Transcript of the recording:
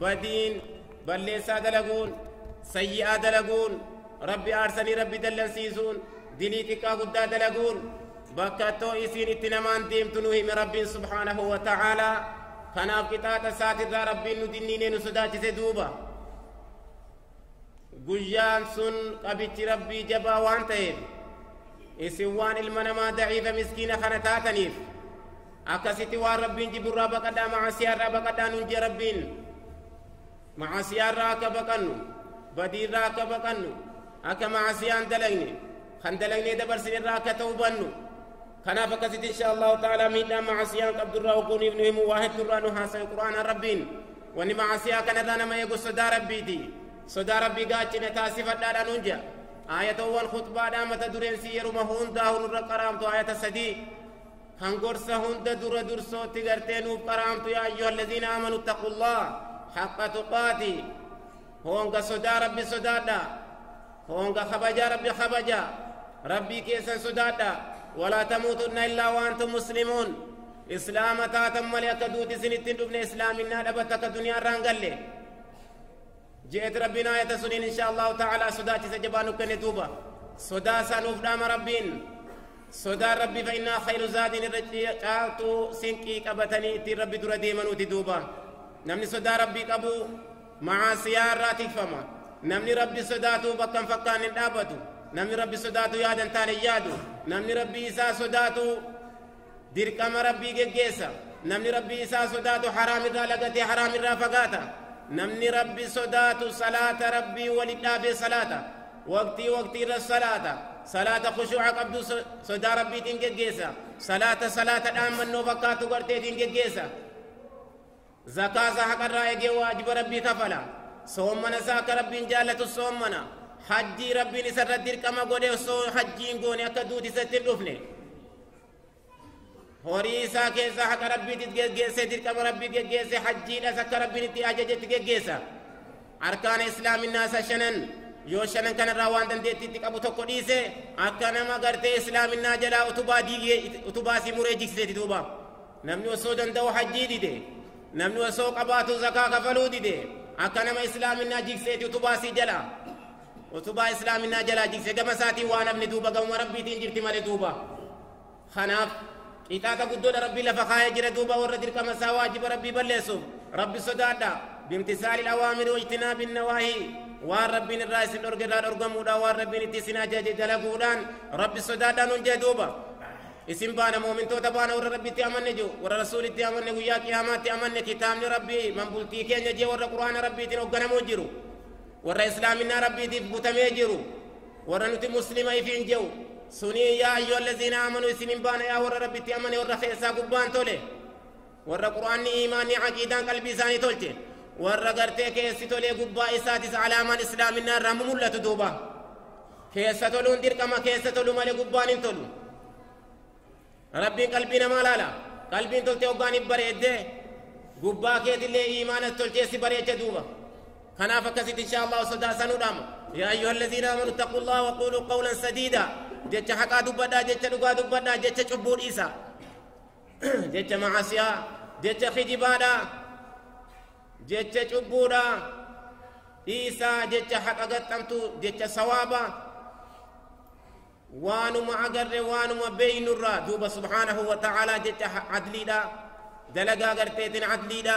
badiin, balleessaa dalaguun, sayyi'aa dalaguun, Rabbi aarsanii Rabbi dallansiisuun, dilii xiqqaa guddaa dalaguun, bakka too isiin itti namaan deemtu nu hime Rabbiin subhaanahu wa ta'aalaa. Kanaaf qixaaxa isaatirraa Rabbiin nu dinniinee nu sodaachise duuba. Guyyaan sun qabichi Rabbii jabaa waan ta'eef isin waan ilma namaa da'iifa miskiina kana taataniif Akkasitti waan Rabbiin jibbu irraa baqadhaa macaasiyaa irraa baqadhaa nuun jee Rabbiin. Macaasiyaa irraa akka baqannu, badii irraa akka baqannu, akka macaasiyaa hin dalagne, kan dalagnee dabarsine irraa akka ta'u bannu. Kanaaf akkasitti insha Allahu ta'ala miidhaan macaasiyaa qabdu irraa ogguuniif nu himu waa hedduu irraa nu haasa'e Qur'aana Rabbiin. Wanni macaasiyaa kanarraa nama eegu sodaa Rabbiiti. Sodaa Rabbii gaachine taasifadhaadha nuun jea. Aayatowwan khutbaadhaa mata dureen si yeruma hundaa'u nurra qaraamtu aayata sadii. kan gorsa hunda dura dursootti gartee nuuf qaraamtu yaa ayyuha alladhiina aamanu ittaqullaah haqqa tuqaati hoonga sodaa rabbi sodaadha hoonga kabajaa rabbi kabaja rabbii keessan sodaadha walaa tamuutunna illaa waantum muslimuun islaama taatan malee akka duuti isinitti hin dhufne islaaminaa dhabatta akka duniyaa irraa hin galle je'eeti rabbiin aayata suniin insha allahu ta'ala sodaachisa jabaa nu kenne duuba sodaa isaa nuuf dhaama rabbiin sodaan rabbi fa innaa khayru zaadiin irra caaltuu sinqii qabatanii ittiin rabbi dura deemanuuti duuba namni sodaa rabbii qabu macaasiyaa irraa tikfama namni rabbi sodaatu bakka hin fakkaan hin dhaabatu namni rabbi sodaatu yaadan taane yaadu namni rabbi isaa sodaatu dirqama rabbii geggeessa namni rabbii isaa sodaatu haraam irraa lagatee haraam irraa fagaata namni rabbi sodaatu salaata rabbii wali dhaabee salaata waqtii waqtii irra salaata salaata khushuuca qabdu sodaa rabbiitiin geggeessa salaata salaata dhaammannoo fakkaatu garteetiin geggeessa Zakaa isaa haqarraa eegee waajiba Rabbii kafala. Soommana isaa akka Rabbiin jaallatu soommana. Hajjii Rabbiin isarra dirqama godhe osoo hajjii hin goone akka duuti isatti hin dhufne. Horii isaa keessaa haqa Rabbiitti geggeessee dirqama Rabbii geggeessee hajjiidhas akka Rabbiin itti ajajetti geggeessa. Arkaana Islaaminaa isa shanan yoo shanan kanarraa waan dandeettiitti qabu tokko dhiise akka nama gartee Islaaminaa jalaa utubaa diigee utubaa si muree jigsiseeti duuba. Namni osoo danda'u hajjii dide, namni osoo qabaatu zakaa kafaluu dide, akka nama islaaminaa jigseeti utubaa sii jala. Utubaa islaaminaa jalaa jigse gama isaatiin waan hafne duuba gamuma rabbiitiin jirti malee duuba. Kanaaf qixaaxa guddoodha rabbi lafa kaa'ee jira duuba warra dirqama isaa waajiba rabbii balleessuuf rabbi sodaadha. Bimtisaali awaamiri wajtinaa binnawaahii waan rabbiin irraa isin dhorge irraa dhorgamuudha waan rabbiin itti isin ajaje dalaguudhaan rabbi sodaadhaan hundee duuba. isin baana moomintoota baana warra rabbitti amanne jiru warra rasuulitti amanne guyyaa qiyaamaatti amanne kitaabni rabbii man bultii keenya jee warra qur'aana rabbiitiin hogganamoo jiru warra islaaminaa rabbiitiif butamee jiru warra nuti muslima ifiin jehu sunii yaa ayyuha allaziina aamanu isinin baana yaa warra rabbitti amane warra keessaa gubbaan tole Warra Qur'aanni iimaanni aqiidaan qalbii isaanii tolche. Warra gartee keessi tolee gubbaa isaatis alaamaan islaaminaa irraa mul'atu duuba. Keessa toluun dirqama keessa tolu malee gubbaan hin tolu. Rabbiin qalbii namaa laala. Qalbiin toltee hoggaan hin bareedde gubbaa keetillee iimaanas tolchee si bareecha duuba. Kanaaf akkasitti inshaa Allah sodaa sanuu dhaama. Yaa ayyuha allaziina amanu taquu Allah wa quuluu qawlan sadiida. Jecha haqaa dubbadhaa jecha dhugaa dubbadhaa jecha cubbuu dhiisa. jecha macaasiyaa jecha kijibaadha jecha cubbuudha dhiisaa jecha haqa gaxxamtu jecha sawaaba waanuma agarre waanuma beeynurraa duuba subhaanahu wa ta'aalaa jecha adliidha dalagaa garteetin adliidha